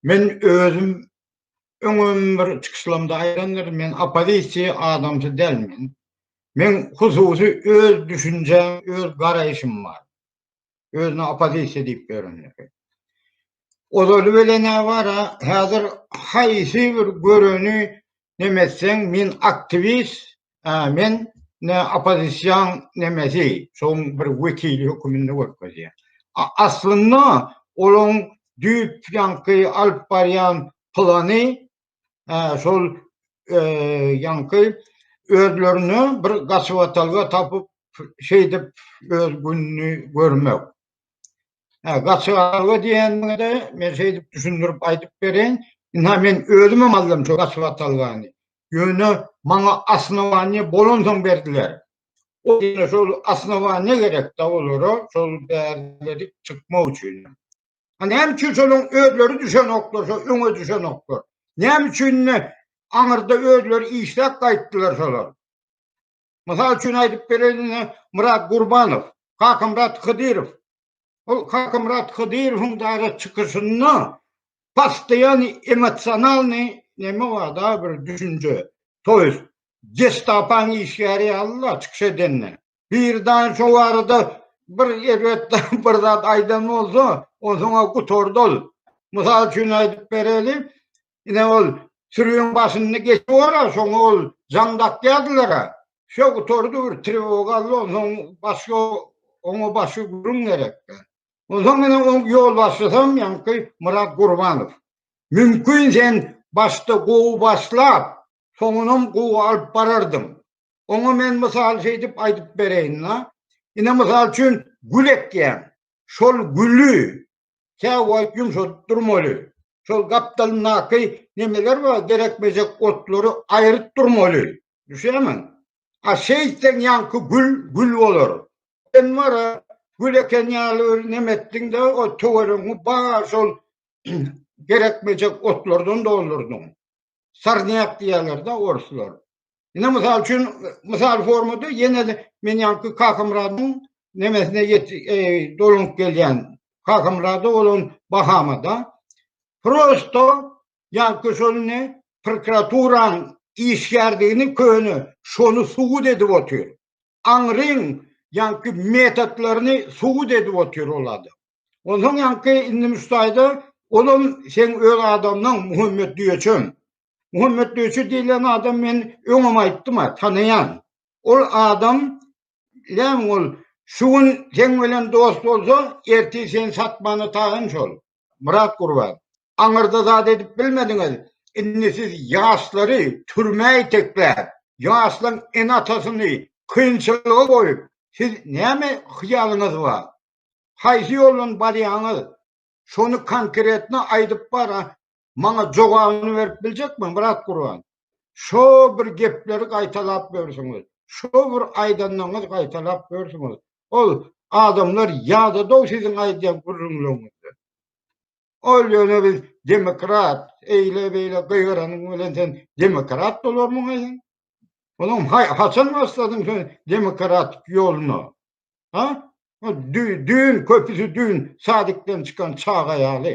Men özüm öňem bir çykyşlarymda aýdandyryn, men oppozisiýa adamsy dälmen. Men hususy öz düşünjäm, öz garaýşym bar. Özüne oppozisiýa diýip ýörenler. Ozaly bilen ne bar-a, häzir haýsy bir göreni nemetseň, men aktiwist, Hä, men ne oppozision nemesi, şoň bir wekili höküminde görkezýär. Aslynda olaň düýp ýaňky alyp barýan plany şol ýaňky özlerine bir gaçybatalga tapyp şeýdip öz gününi görmek. Ha, gaçygarga diýeninde men şeýdip düşündirip aýdyp bereýin. Ina men özüm hem aldym şu gaçyga talgany. Ýöne maňa asnowaniýe bolan soň berdiler. O ýene şol asnowaniýe gerek da olara şol bäri çykmak üçin. Ha näme üçin şonuň özleri düşenoklar, şo öňe düşenoklar. Näme üçin aňyrda özleri işläp gaýtdylar şolar. Mysal üçin aýdyp bereýin, Murat Gurbanow, Kakamyrat Hydyrow. Ol Kakamyrat Hydyrowyň dagy çykyşynda pastaýan emosionalny näme wada bir düşünje. Toýs gestapaň işgäri ýaly çykyş edende. Bir dagy şo barada bir erbet bir zat aýdan bolsa, onsoň gutardal. Mysal üçin aýdyp bereýin, Ine ol sürüň başyny geçip ora, şoňa ol jaň dakýardylar-a. Şo gutardy bir trewoga aldy, onsoň başga oňa başga gürrüň gerekdi. Onsoň ine oň ýolbaşçysam ýaňky Myrat Gurbanow. Mümkin sen başda gowy başlap, soňunam gowy alyp barardyň. Oňa men mysal şeýdip aýdyp bereýin-la. Ine mysal üçin gül ekýäň. Şol güli käwoýyp ýumşadyp durmaly. Şol gapdalyndaky nemeler bar, derek-mejek otlary aýryp durmaly. Düşýärmiň? A şeýtseň ýaňky gül, gül bolar. Sen wara, gül eken ýaly bir neme etdiň-de, o töweregiňi bar şol derek-mejek otlardan doldurdyň. Sarnyak diýerler de orslar. Ine mysal üçin mysal formada ýene de men ýanky Kakamyradyň nemesine ýet e, dolunyp gelýän. Kakamyrady bolan Bahamada prosto ýanky şol ne prokuraturaň işgärdigini köne şony subut edip otyr. aňryň ýaňky metotlaryny subut edip otyr ol adam. Onsoň ýaňky indi müstaýda olam seň öz adamyň Muhammet Düýeçem. Muhammet Düýeçe diýlen adam men öňem aýtdym-a, tanaýan. Ol adam näme ol şu gün seň bilen dost bolsa, ertir seni satmana taýyn şol. Myrat Gurban, Aňyrda zat edip bilmediňiz, indi siz ýaşlary türmä itekläp, ýaşlaň ene-atasyny kynçylyga goýup, siz näme hyýalyňyz bar? Haýsy ýoldan barýaňyz? Şony konkretno aýdyp bar, maňa jogabyny berip biljekmi, Myrat Gurban? Şo bir gepleri gaýtalap ýörsiňiz, şo bir aýdanlaryňyzy gaýtalap ýörsiňiz, Ol adamlar ýada dow siziň aýdýan gürrüňleriňizden. Ol ýöne biz demokrat, eýle beýle gygyranyň bilen sen demokrat bolarmyň aýdan? Olam haçan başladyň sen demokratik ýoluna? Ha? Düýn köpüsi düýn sadikden çykan çaga ýaly.